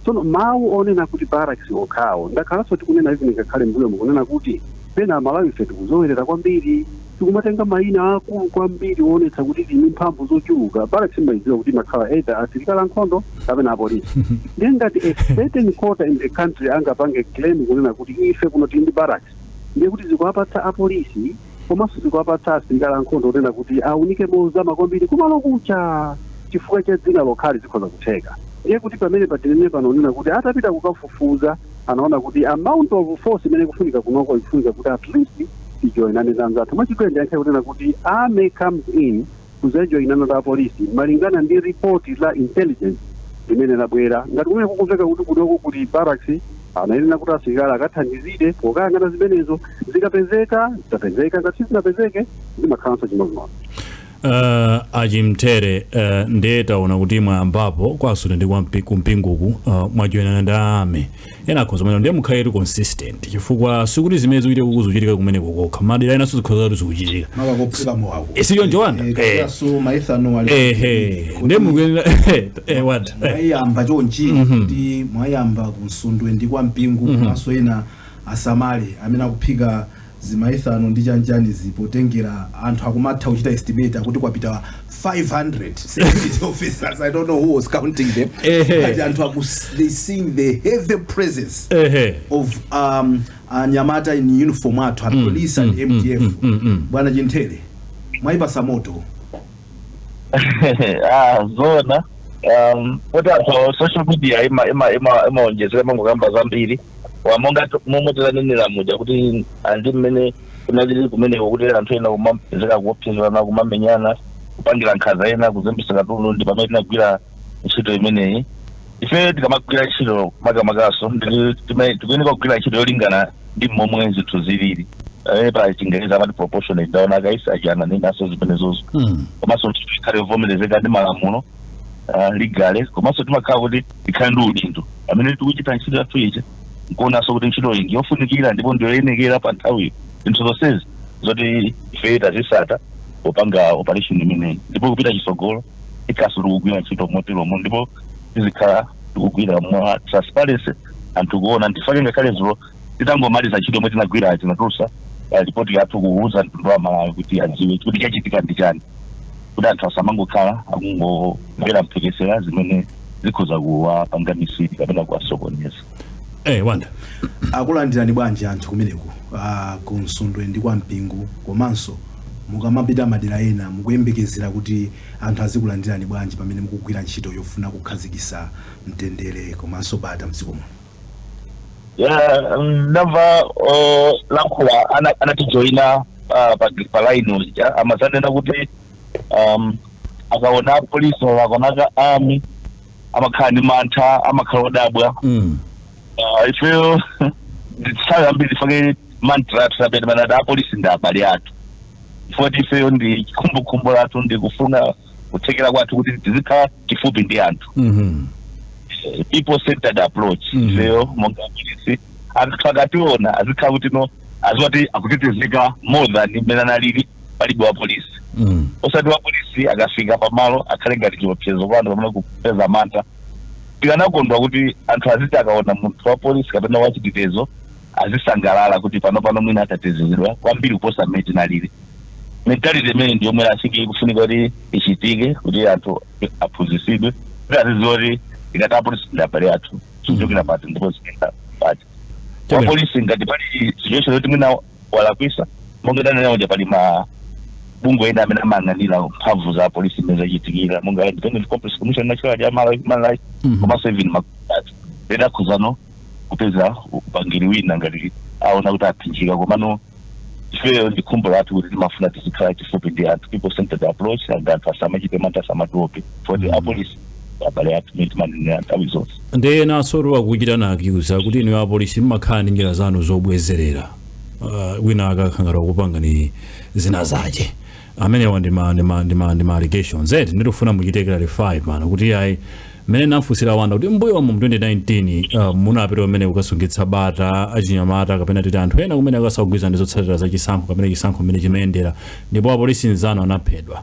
Tsono mawu onena kuti barracks okhawo ndakhalanso tikunena even ngakhale mmbuyomu kunena kuti pena Amalawife tikuzowerera kwambiri tikumatenga mayina aakulu kwambiri oonetsa kuti tili ndi mphamvu zochuluka. Barracks mmayidziwa kuti imakhala either asilikali ankhondo kapena apolisi. Ndiye ngati a certain quarter in the country angapange claim kunena kuti ife kuno tili ndi barracks ndiye kuti zikuwapatsa apolisi, komanso zikuwapatsa asilikali ankhondo kunena kuti aunike mozama kwambiri kumalo kuja chifukwa cha dzina lokhali zikhoza kutheka ndiye kuti pamene pa tinene pano kunena kuti atapita kukafufuza anaona kuti amount of force imene ikufunika kunoko ikufunika kuti at least tijoinane ndi anzathu mwachidule ndiyankhe kunena kuti army comes in kudzajoyinana ndi apolisi malingana ndi report la intelligence limene labwera ngati kumene kukumveka kuti kunoko kuli barracks anayenera kuti asilikali akathandizire pokayang'ana zimenezo zikapezeka zitapezeka ngati sizinapezeke zimakhalanso chimodzimodzi Uh, a Chimthere uh, ndiye taona kuti mwayambapo kwa Nsundwe ndi kwa Mpi- ku Mpinguku uh, mwajoyinana ndi army ena akhoza kumanena ndiye mukhaletu consistent chifukwa sikuti zimene zikuchitika kuku zikuchitika kumeneko kokha madera enanso zikhoza kuti zikuchitika makakophera mowawo Eh, si choncho Wanda Eh, kapenanso maethano ali ehe ndiye mukuyenera eh, Wanda eh. mwayamba chonchi kuti mwayamba ku Nsundwe ndi kwa Mpingu komanso ena asamale amene akuphika zimaethano ndi chanichani izi potengera anthu akumatha kuchita estimate akuti kwapita 500 security officers i don't know who was counting them Ehe. but anthu aku they seeing the heavy presence ehe of um, anyamata in uniform athu a police and mdf bwana Chimthere mwayipatsa moto ah zona um kuti anthu a social media ima ima ima amaonjezera amangokamba zambiri Wa monga tu- momwe tilanenera muja kuti ah, ndi mmene kunalili kumeneko kuti anthu ena kumapezeka kuopsezana kumamenyana kupangirana nkhanza ena kuzembesa katundu ndi pamene tinagwira ntchito imeneyi ife tikamagwira ntchito makamakaso ndi- time- tikuyeneka kugwira ntchito yolingana ndi momwe zinthu zilili Eh, pa chingereza amati proportionate ndaona a Kaisa achananenaso zimenezozo Mm. komanso kuti ikhale yovomerezeka ndi malamulo ah, legal komanso timakhala kuti tikhale ndi udindo amene tikuchita ntchito yathu ija nkuonanso kuti ntchito iyi ndiyofunikira ndipo ndiyoyenekera pa nthawiyo zinthu zonsezi zoti ife tazisata popanga operation imeneyi ndipo kupita chitsogolo tikhalaso tikugwira ntchito moteromo ndipo tizikhala tikugwira mwa transparency anthu kuona ndifake ngakhale zulo titangomaliza ntchito yomwe tinagwira tinatulusa ripoti yathu kuuza mtundu wa Malawi kuti adziwe kuti chachitika ndi chani kuti anthu asamangokhala akungomvera mphekesera zimene zikhoza kuwapanga mislead kapena kuwasokoneza Eh, anthu akulandirani bwanji anthu kumeneko ah, ku Msundwe ndi kwa Mpingu komanso mukamapita madera ena mukuyembekezera kuti anthu azikulandirani bwanji pamene mukugwira ntchito yofuna kukhazikisa mtendere komanso bata mdziko muno Yeah, mm, ndamva olankhula ana- anatijoyina ah, pa pa line uja amazanena kuti um, akaona apolisi akaona a army amakhala ndi mantha amakhala odabwa mm. Ah, ifeyo nthawi zambiri ndifake mantra yathu amene imanena apolisi ndi abale athu moti ifeyo ndi chikhumbokhumbo chathu ndi kufuna kuthekera kwathu kuti tizikhala chifupi ndi anthu Mhm. Eh, people centered approach Mhm. ifeyo monga apolisi anthu akationa azikhala kuti no aziwa kuti akutetezeka more than mmene analili palibe wapolisi mm. osati wapolisi akafika pamalo akhale ngati chiopsezo kwa anthu pamene kupeza mantha tikanakondwa kuti anthu aziti akaona munthu wa polisi kapena wachitetezo azisangalala kuti pano pano mwina tatetezedwa kwambiri kuposa mmene tinalili mentality imeneyi ndi yomwe asiki ikufunika kuti ichitike kuti anthu aphunzisidwe kuti aziziwa kuti tikati apolisi ndi abale athu zikuchokera pati ndipo zikuyenda pati wapolisi ngati pali situation yoti mwina walakwisa monga ndanena uja pali ma bungwe ena amene amayang'anira mphamvu za polisi mmene zachitikira monga independent complaints commission national ya Malawi human rights Mhm. komanso even makhoti ali ready akhozano kupeza upangiri wina ngati aona kuti aphinjika komano ifeyo ndi khumbo lathu kuti timafuna tizikhala chifupi ndi anthu people centered approach and anthu asamachite mantha asamatiope Mhm. apolisi abale athu mmene timanenera nthawi zonse ndiye enanso akuchita nawo accuse kuti inuyo apolisi mmakhala ndi njira zanu zobwezerera uh, wina akakhala ngati kupanga ni zina zake amenewa ndi ma, ndi ma, ndi ma, ndi ma allegations eti ndikufuna muchite clarify pano kuti ayi mmene nafunsira wanda kuti mbuyomu mu 2019 uh, munapita kumene kukasungitsa bata achinyamata kapena titi anthu ena kumene samagwirizana ndi zotsatira za chisankho kapena chisankho mmene chimayendera ndipo apolisi nzanu anaphedwa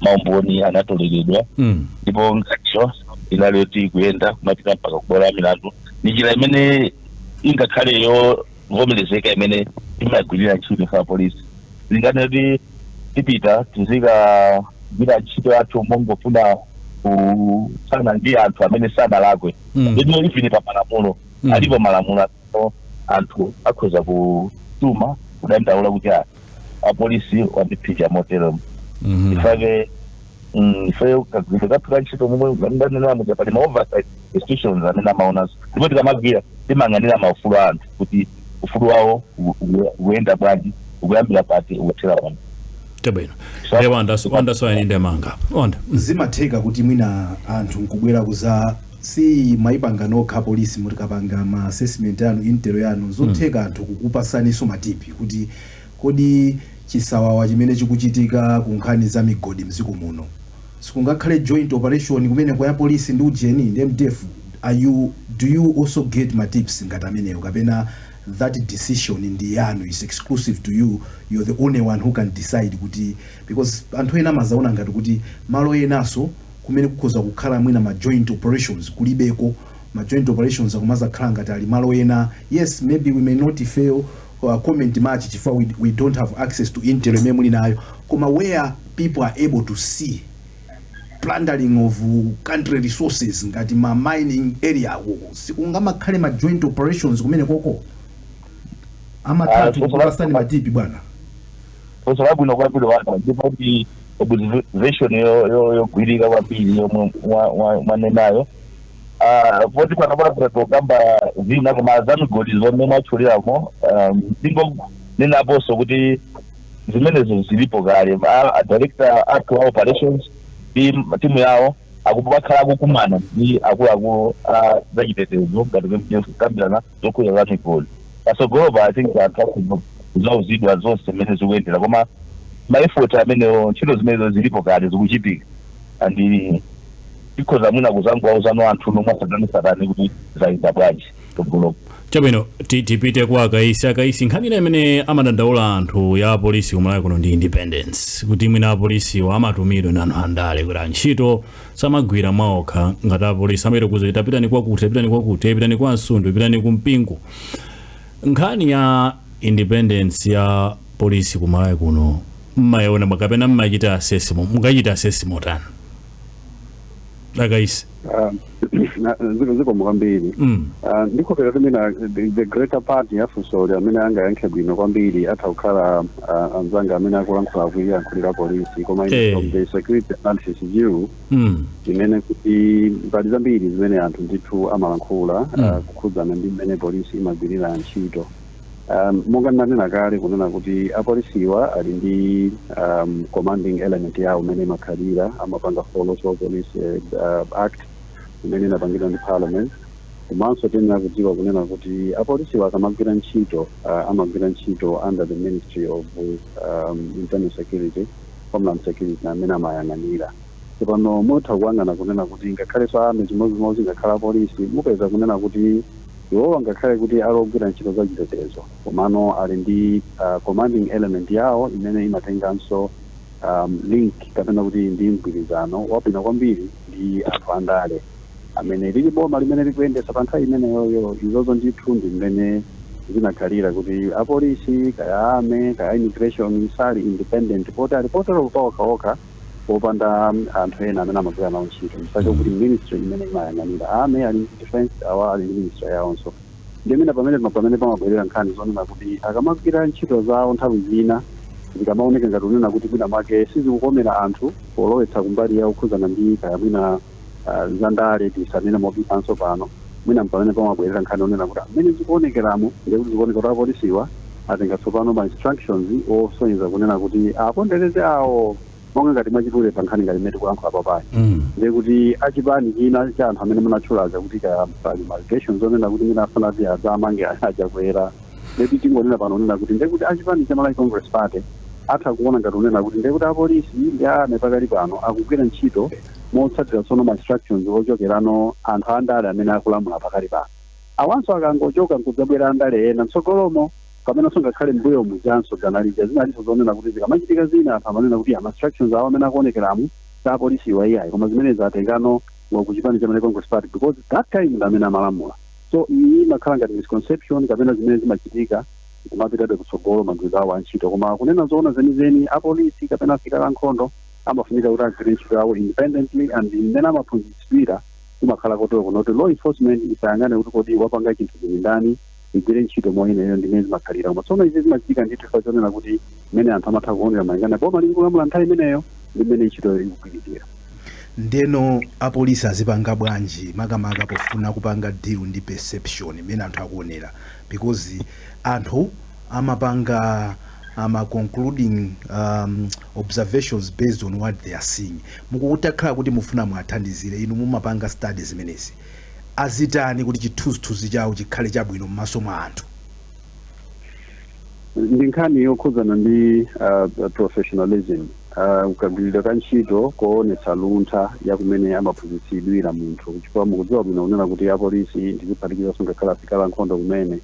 maumboni anatoleredwa Mm. ndipo nkhaniyo inali yoti kuyenda kumapita mpaka kubwalo la milandu ndi njira imene ingakhale yovomerezeka imene timagwirira ntchito ife apolisi sitingati kuti tipita tizikagwira ntchito yathu mongofuna kuthana ndi anthu amene sanalakwe Mm. ndipo even pa malamulo Mm. alipo malamulo amene anthu akhoza kutuma kudandaula kuti ah, wapolisi wandiphinja moteromo Mhm. ife eke mm, ife kagwiridwe kathu ka ntchito momwe ndanenera muja pali ma oversight institutions amene amaona izo ndipo tikamagwira timayang'anira maufulu a anthu kuti ufulu wawo u- u- ukuyenda bwanji ukuyambira pati ukuthera pati chabwino Sa- nde Wandanso Wandanso ayende mwanga Wanda zimatheka kuti mwina anthu nkubwera kuza Simumaipanga nokha apolisi mutakapanga ma assessment anu intel yanu nzotheka anthu kukupatsaninso ma tip kuti kodi chisawawa chimene chikuchitika ku nkhani za migodi mdziko muno sikungakhale joint operation kumene kwa police ndi ujeni ndi mdf are you do you also get ma tips ngati amenewo kapena that decision ndi yanu is exclusive to you you're the only one who can decide kuti because anthu ena amadzaona ngati kuti malo enanso kumene kukhoza kukhala mwina ma joint operations kulibeko, ma joint operations akumadzakhala ngati ali malo ena, yes maybe we may not ifeyo uh, comment much chifukwa we, we don't have access to intel imene muli nayo koma where people are able to see plundering of country resources ngati ma mining area akoko sikungamakhale ma joint operations kumene koko amatha Ah, so- kukupatsani matipi bwana funso labwino kwambiri Wanda ndipo kuti observation yo- yo- yogwirika kwambiri yomwe mwa- mwa- mwanenayo Ah, poti pano pano tokamba zina koma za migodi zomwe mwatchulamo ndingonenaponso kuti zimenezo zilipo kale A- a director athu a operations ndi m- timu yawo akhala akukumana ndi akuluakulu a zachitetezo kukambirana zokhudza za migodi patsogolopa i think anthu akhoza kudzauzidwa zonse mmene zikuyendera koma ma effort amenewo ntchito zimenezo zilipo kale zikuchitika and tikhoza mwina kudzangowauza anthuno mwatsatanetsatane kuti zayenda bwanji kutsogoloko chabwino ti- tipite kwa akaisi akaisi nkhani ina imene amadandaula anthu ya apolisi kumalawi kuno ndi independence kuti mwina apolisiwo amatumidwa ndi anthu andale kuti antchito samagwira mwaokha ngati apolisi amayerekeza kuti pitani kwakuti pitani kwakuti pitani kwa Msundwe pitani ku mpingo nkhani ya independence ya polisi ku malawi kuno mmayiona mwa- kapena mmachita assess mo- mukuchita assess motani a Kaisi Ah, na- ziko- zikomo kwambiri mm. Ah, ndikukhulupirira kuti mwina the- the greater part ya funsoli amene angayankhe bwino kwambiri atha kukhala ah, anzanga amene akulankhula akuyankhulira polisi koma ine Eh. from the security analysis view mm. tinene kuti pali zambiri zimene anthu ndithu amalankhula Mm. ah, kukhudzana ndi mmene polisi imagwirira ntchito um, monga ndinanena kale kunena kuti apolisiwa ali ndi um, commanding element yawo imene imakhalira amapanga follow police eh, ah, act imene inapangidwa ndi parliament Komanso tiyenera kudziwa kunena kuti apolisiwa akamagwira ntchito, amagwira ntchito under the Ministry of Internal Security, Homeland Security amene amayang'anira. Tsopano mutha kuyang'ana kunena kuti ngakhalenso a Army chimodzimodzi ngakhale apolisi, mupeza kunena kuti iwowa ngakhale kuti ali ogwira ntchito za chitetezo komano ali ndi commanding element yawo imene imatenganso link kapena kuti ndi mgwirizano wabwino kwambiri ndi anthu andale. amene ali m'boma limene likuyendetsa pa nthawi imeneyoyo. Izozo ndithu ndi mmene zinakhalira kuti apolisi kaya a army kaya a immigration sali independent poti alipo tero paokhaokha popanda anthu ena amene amagwira nawo ntchito chifukwa chokuti ministry imene imayang'anira a army ali ndi defense awa ali ndi ministry yawonso ndiye mpamene pamene pamabwerera nkhani zonena kuti akamagwira ntchito zawo nthawi zina zikamaoneka ngati kunena kuti mwina mwake sizikukomera anthu polowetsa kumbali yokhudzana ndi kaya mwina ah, za ndale tisanene mobisanso pano mwina mpamene pamabwerera nkhani yonena kuti mmene zikuonekeramu ndiye kuti zikuoneka kuti apolisiwa atenga tsopano ma instructions osonyeza kunena kuti apondereze awo monga ngati mwachidule pa nkhani ngati imene tikulankhula papayi Mm. ndiye kuti achipani china cha anthu amene munatchula zakuti kaya pali ma allegations onena kuti mwina afuna kuti adzamange a Chakwera ndiye kuti tingonena pano onena kuti ndiye kuti achipani cha malawi congress party atha kuona ngati kunena kuti ndiye kuti apolisi ndi army pakali pano akugwira ntchito motsatira tsono ma instructions ochokerano anthu andale amene akulamula pakali pano. Awanso akangochoka nkudzabwera andale ena mtsogolomo kapenanso ngakhale m'mbuyo mujanso dzana lija zinalinso zonena kuti zikamachitika zina anthu amanena kuti ya ma instructions awo mmene akuonekeramu si a apolisiwa iyayi koma zimenezi atengano wa ku chipani cha Malawi Congress Party because that time ndi amene amalamula. So iyi imakhala ngati misconception kapena zimene zimachitika kumapitabe kutsogolo magwiridwe awo a ntchito koma kunena zoona zenizeni apolisi kapena asilikali ankhondo amafunika kuti agwire ntchito yawo independently and mmene amaphunzitsidwira kumakhala kotero kuno kuti law enforcement isayang'ane kuti kodi wapanga chinthuchi ndi ndani igwire ntchito moyenerera ndi mmene zimakhalira koma tsono izi zimachitika ndithu chifukwa chonena kuti mmene anthu amatha kuonera malingana boma lili kulamula nthawi imeneyo ndi mmene ntchitoyo ikugwiridwira ndeno apolisi azipanga bwanji makamaka pofuna kupanga deal ndi perception imene anthu akuonera because anthu amapanga ama concluding um, observations based on what they are seeing mukutakhala kuti mufuna muwathandizire inu mumapanga study zimenezi azitani kuti chithunzithunzi chawo chikhale chabwino mmaso mwa anthu. ndi nkhani yokhudzana ndi uh, professionalism uh, kagwiridwe ka ntchito koonetsa luntha ya kumene amaphunzitsidwira munthu chifukwa mukudziwa bwino kunena kuti apolisi ndiziphatikizanso ngakhale asilikali a nkhondo kumene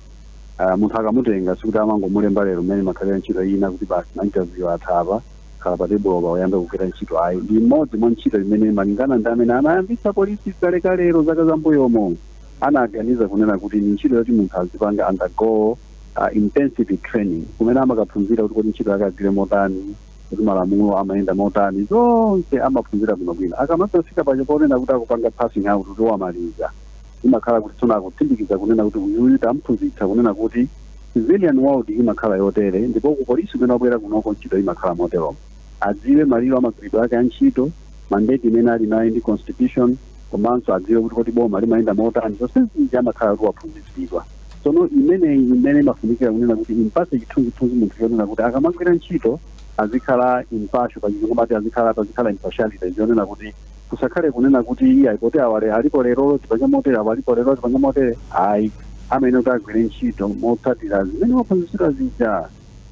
Uh, munthu akamutenga sikuti amangomulemba lero mmene imakhalira ntchito ina kuti basi mainterview atha apa khala pa tebulopa uyambe kugwira ntchito ayi ndi imodzi mwa ntchito imene malingana ndi amene anayambitsa polisi kalekalero zaka zambuyomo anaganiza kunena kuti ni ntchito yoti munthu azipanga undergo uh, intensive training kumene amakaphunzira kuti kodi ntchito yake agwire motani kuti malamulo amayenda motani zonse amaphunzira bwinobwino akamazafika paja ponena kuti akupanga passing out kuti wamaliza imakhala kuti tsono akutsindikiza kunena kuti uyuyu tamphunzitsa kunena kuti civilian world imakhala yotere ndipo ku polisi kumene wabwera kunoko ntchito imakhala moteromo adziwe malire a magwiridwe ake a ntchito mandate imene ali nayo ndi constitution komanso adziwe kuti kodi boma limayenda motani zonsezi amakhala kuti waphunzitsidwa tsono imeneyi imene imafunikira kunena kuti impase chithunzithunzi munthu chonena kuti akamagwira ntchito azikhala impartial pachizungu amati azikhala pazikhala impartiality zonena kuti Kusakhale kunena kuti iyayi poti awa le, alipo lerolo tipange motere, awa alipo lerolo tipange motere, ayi. Amayenera kuti agwire ntchito motsatira zimene waphunzitsidwa zija.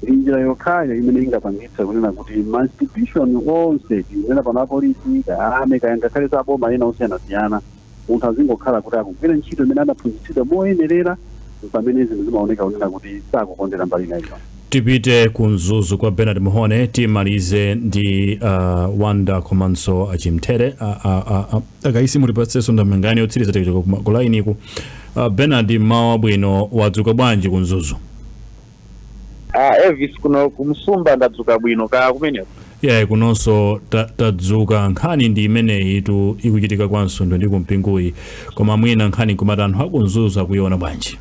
Ndi njira yokhayo imene ingapangitse kunena kuti ma institution onse, tinena pano apolisi, kaya army, kaya ngakhalenso aboma ena osiyanasiyana, Munthu azingokhala kuti akugwira ntchito imene adaphunzitsidwa moyenerera m'pamene zinthu zimaoneka kunena kuti sakukondera mbali ina iliyonse. Tipite ku Mzuzu kwa Bernard Muhone timalize ndi a Wonder komanso a Chimthere. A, a, a, a, akaisi mutipatsenso ndemanga yotsiriza tikachoka kuma- ku lainiku. A Bernard, mmawa wabwino, wadzuka bwanji ku Mzuzu? Ah, Elvis kuno kumsumba ndadzuka bwino kaya kumeneko. yayi kunonso ta- tadzuka nkhani ndi imeneyi tu ikuchitika kwa Msundwe ndi ku Mpinguyi koma mwina nkhani nkumati, anthu aku Mzuzu akuiona bwanji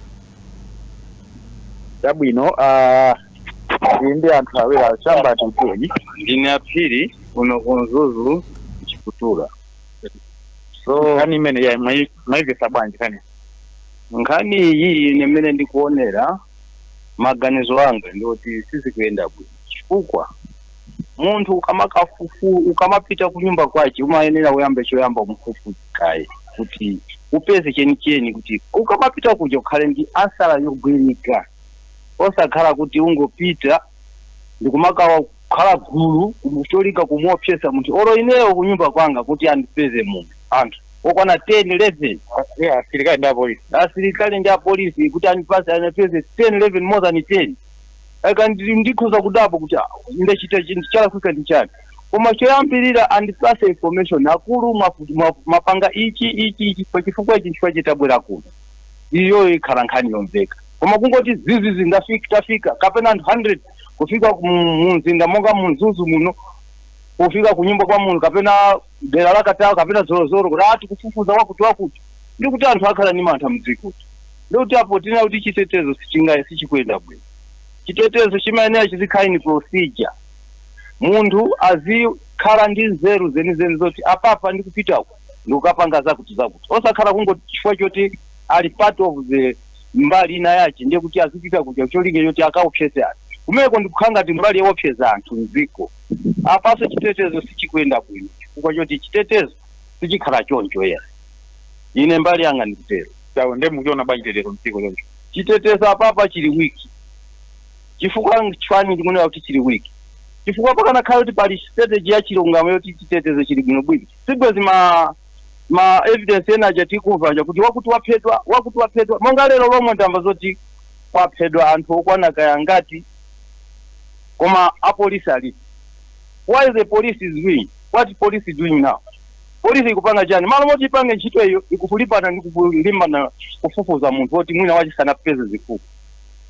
Chabwino ah iyi ndi anthu awiri achamba tituni. ndine a Phiri kuno ku Mzuzu chikutura so Nkhani imene yayi mwaimvetsa bwanji kani. nkhani iyi ine mmene ndikuonera maganizo anga ndi woti sizikuyenda bwino chifukwa munthu ukamakafufuza ukamapita kunyumba kwace umayenera uyambe choyamba umufufuze kaye kuti upeze chenicheni kuti ukamapita kuja ukhale ndi ansala yogwirika osakhala kuti ungopita ndikumakawa kukhala gulu kumu- cholinga kumuopsesa munthu olo ineyo kunyumba kwanga kuti andipeze munthu anthu okwana 10 11 asilikali ndi apolisi kuti andipeze andipeze 10 11 more than 10 aka ndi- ndikhoza kudabwa kuti ah, ndachita chinthu chalakwika ndi chani koma choyambirira andipase information akulu mwafu- mwa- mwapanga ichi ichi ichi pa chifukwa ichi chifukwa chake tabwera kuno iyo ikhala nkhani yomveka koma kungoti zizizi ndafika tafika kapena anthu 100 kufika ku- mu mzinda monga mu mzuzu muno kufika ku nyumba kwa munthu kapena dera la katawa kapena zolozolo kuti ati kufufuza wakuti wakuti ndi kuti anthu akhala ndi mantha mdziko ndi kuti apo tinena kuti chitetezo sichinga- sichikuyenda bwino chitetezo chimayenera chizikhala ni procedure munthu azikhala ndi nzeru zenizeni zoti apapa ndikupita uku ndikukapanga zakuti zakuti osakhala kungoti chifukwa choti ali part of the mbali ina yache ndiye kuti azipita kuja cholinga choti akaopseze anthu kumeko ndikukhala ngati mbali yoopseza anthu mdziko apaso chitetezo sichikuyenda bwino chifukwa choti chitetezo sichikhala choncho ya ine mbali yanga ndikutero tawo nde mukuchiona bwanji chitetezo mdziko choncho chitetezo apapa chili weak chifukwa nchiyani ndikunena kuti chili weak chifukwa pakanakhala kuti pali strategy ya chilungamo yoti chitetezo chili bwino bwino sibwezi ma ma evidence ena aja tikumva aja kuti wakuti waphedwa wakuti waphedwa monga lero lomwe ndamva zoti kwaphedwa anthu okwana kaya ngati koma apolisi ali why the police is doing what police is doing now polisi ikupanga chani malo moti ipange ntchito iyo ikukulimbana ndi kulimbana kufufuza munthu woti mwina wache sanampeze zifukwa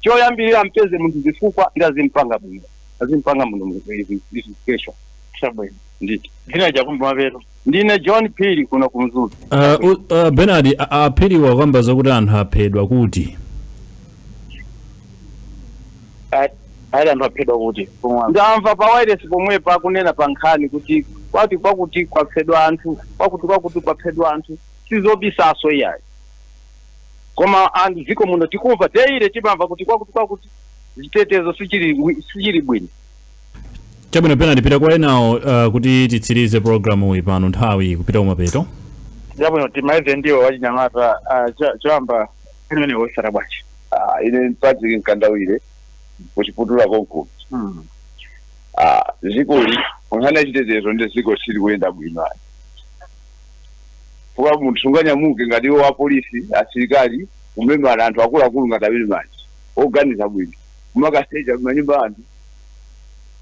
choyambirira ampeze munthu zifukwa ndi azimpanga bwino azimpanga munthu mu- investigation chabwino nditi dzina chakumapeto ndine john phiri kuno ku mzuzu Uh, u- uh, benard a- a- aphiri wakamba zakuti anthu aphedwa kuti A- ali anthu aphedwa kuti ndamva pa wireless pomwepo akunena pa nkhani kuti kwati kwakuti kwaphedwa anthu kwakuti kwakuti kwaphedwa anthu sizobisanso iyayi koma anthu mdziko muno tikumva daily timamva kuti kwakuti kwakuti chitetezo sichili wi- sichili bwino chabwino Bernard tipita kwa enawo uh, kuti titsirize programu iyi pano nthawi kupita kumapeto chabwino timalize ndi wachinyamata ah, cho- choyamba imene wosala bwanji Ah, ine patrick mkandawire kuchiputula konkuno Hmm. Ah, zikoli nkhani yachitetezo nde ziko sili kuyenda bwino ayi kwa munthu sunganyamuke ngati wapolisi asilikali kumemana anthu akuluakulu ngati amene manje oganiza bwino kumakasecha mmanyumba anthu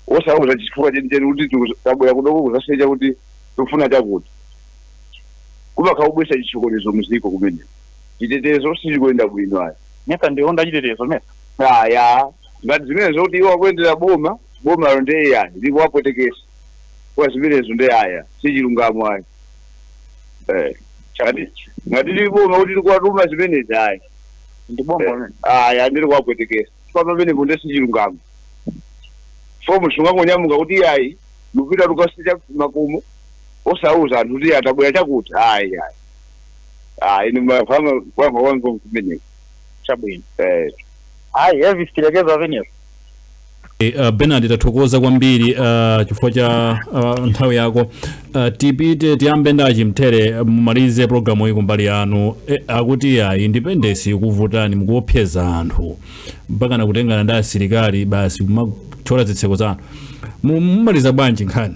osauza chifukwa chenicheni kuti tiku- tabwera kudoko kuzasecha kuti tikufuna chakuti kumakhala kubwesa chitsokonezo muziko kumene chitetezo sichikuyenda bwino ayi mesa ndiwo achitetezo mesa aya ngati zimenezo kuti iwo akuyendera boma bomalo nde aya ndipo apwetekesa kwa zimenezo nde aya sichilungamo ayi Eh, ngati ngati ndi boma kuti likuwatuma zimenezi ayi ndi boma ayi ndili kuwapwetekesa chifukwa pamenepo nde sichilungamo fo munthu ungangonyamuka kuti ayi tipita tukasecha makomo osauza anthu kuti tabwera chakuti ayi ayi ayi ni mafama kwanga wango kumeneko chabwino eh ayi Elvis tilekeza pamenepo Eh, uh, Bernard tathokoza kwambiri uh, chifukwa cha uh, nthawi yako uh, tipite tiyambe ndi achimthere mumalize programu iyi kumbali yanu eh, akuti ya intelligence ikuvutani mukuopseza anthu mpakana kutengana ndi asilikali basi kumathyola zitseko za anthu Mu- mumaliza bwanji nkhani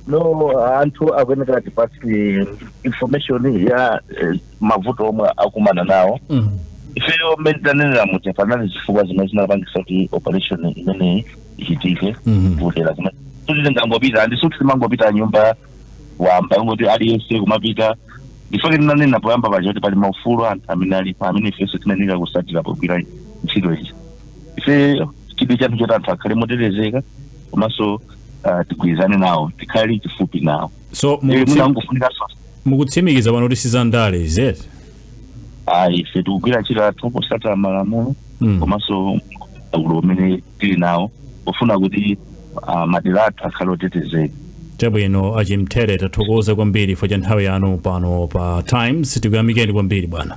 no anthu akuyenera atipatse information ya eh, mavuto omwe akumana nawo mm. ifeyo mmene tanenera muja panali zifukwa zimene zinapangisa kuti operation imeneyi ichitike Mhm. kudera kumene sikuti tingangopita nde sikuti timangopita nyumba wamba ngati aliyense kumapita nchifukwa chake tinanena poyamba paja kuti pali maufulu anthu amene alipo amene ifenso timayenera kutsatira pogwira ntchito izi ife chidwi chathu nchoti anthu akhale motetezeka komanso ah, tigwirizane nawo tikhale kufupi nawo so Eh, mukutsi- mwina angofunika so mukutsimikiza pano kuti sizandale is it ayi ife tikugwira ntchito yathu potsata malamulo Mm. komanso udindo umene tili nawo pofuna kuti ah, madera athu akhale otetezeka chabwino achimthere tathokoza kwambiri chifukwa cha nthawi yanu pano pa times tikuyamikeni kwambiri bwana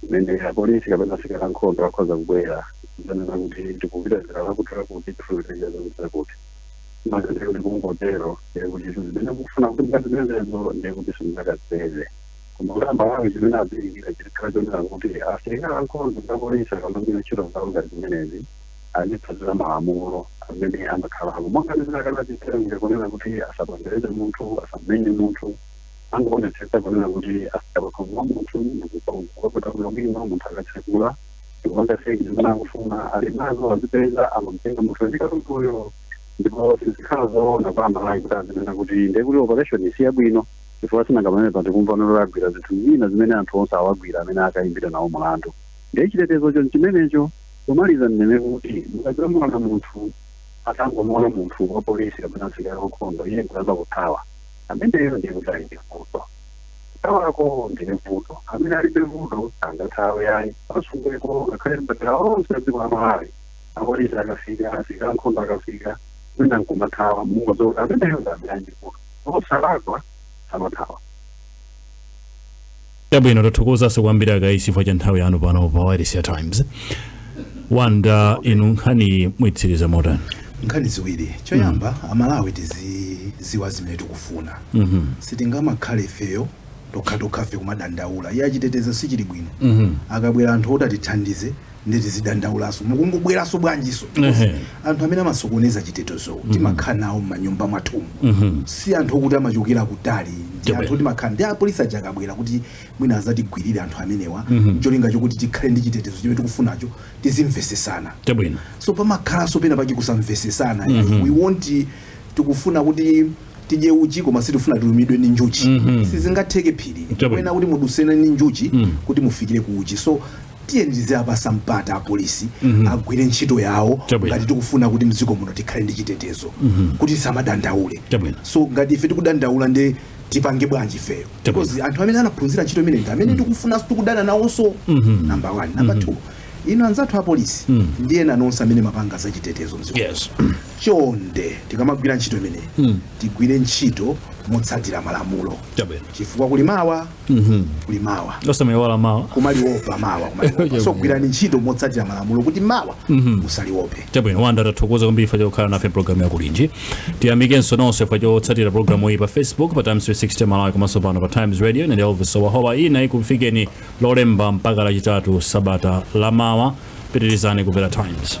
kumene apolisi kapena asilikali ankhondo akhoza kubwera nzanena kuti tikupita dera lakutilakuti tifuna tikatenge zakuti zakuti maka ndiye kuti kungotero ndiye kuti izo zimene mukufuna kuti mukatengezo ndiye kuti simungakazipeze koma kuti amalawi chimene azifunikira chikhala chonena kuti asilikali ankhondo ndi apolisi akamagwira ntchito zawo ngati zimenezi azitsatira malamulo amene amakhalako monga ndinenako ngati chitsanzo kunena kuti asapondereze munthu asamenye munthu angoonetsetsa kunena kuti afika pakhomo pa munthu ndikukakopa bwino bwino munthu akatsekula ndikupanga search zimene akufuna ali nazo azipeza amamtenga munthu ndi katunduyo ndipo sizikhala zoona kwa amalawi kuti azinena kuti ndiye kuti operation si yabwino chifukwa sinanga pamene tikumva pano agwira zinthu zina zimene anthu onse awagwira amene akayimbidwe nawo mulandu ndiye chitetezocho nchimenecho pomaliza ndinene kuti mukadzamuona munthu atangomuona munthu wa polisi kapena msilikali wankhondo iye nkuyamba kuthawa Ameneyo ndiye kuti ali ndi vuto. Kuthawako ndiye vuto. Amene alibe vuto sangathawe ayi. Ku Msundweko ngakhale m'madera onse a dziko la Malawi. Apolisi akafika, asilikali ankhondo akafika, wina nkumathawa mungodziwa kuti ameneyo ndi amene ali ndi vuto. Osalakwa samathawa. Chabwino, tathokozanso kwambiri a Kaisi chifukwa cha nthawi yanu pano pa Wailesi ya Times. Wanda, inu nkhani muitsiriza motani? nkhani ziwiri choyamba amalawi tiziziwa zimene tikufuna sitingamakhale ifeyo tokhatokhafe kumadandaula iyayi chitetezo sichili bwino akabwera anthu oti atithandize nde tizidandaulaso mukungobweraso bwanjiso because Ehe. anthu amene amasokoneza chitetezowo timakhala nawo m'manyumba mwathumu si anthu okuti amachokera kutali ndi Chabe. anthu oti timakhala nawo apolisi aja akabwera kuti mwina azatigwirire anthu amenewa cholinga chokuti tikhale ndi chitetezo chimene tikufunacho tizimvesesana chabwino so pamakhalanso pena pake kusamvesesana we want tikufuna kuti tidye uchi koma sitifuna tilumidwe ndi njuchi sizingatheke uyenera Chabwino. kunena kuti mudusene ndi njuchi kuti mufikire ku uchi so Tiyeni tiziapasa mpata apolisi agwire ntchito yawo ngati tikufuna kuti mdziko muno tikhale ndi chitetezo kuti tisamadandaulenso ngati ife tikudandaula nde tipange bwanji ifeyo because anthu amene anaphunzira ntchito imeneyi ndi amene tikufuna tikudana nawoso number one number two inu anzathu apolisi ndi ena nonse amene mapanga za chitetezo mdziko yes. chonde tikamagwira ntchito imeneyi tigwire ntchito motsatira malamulo chifukwa kuli mawa kuli mawa osamaiwala mawa kumaliopa mawa kumaliopa Chabwino. so gwirani ntchito motsatira malamulo kuti mawa musaliope chabwino wanda tathokoza kwambiri fa chokhala nafe mu programu yakulinji tiyamikenso nonse fa chotsatira programu iyi pa facebook pa times 360 malawi komanso pano pa times radio ndine elvis howahowa ina ikufikeni lolemba mpaka lachitatu sabata lamawa pitirizani kumvera times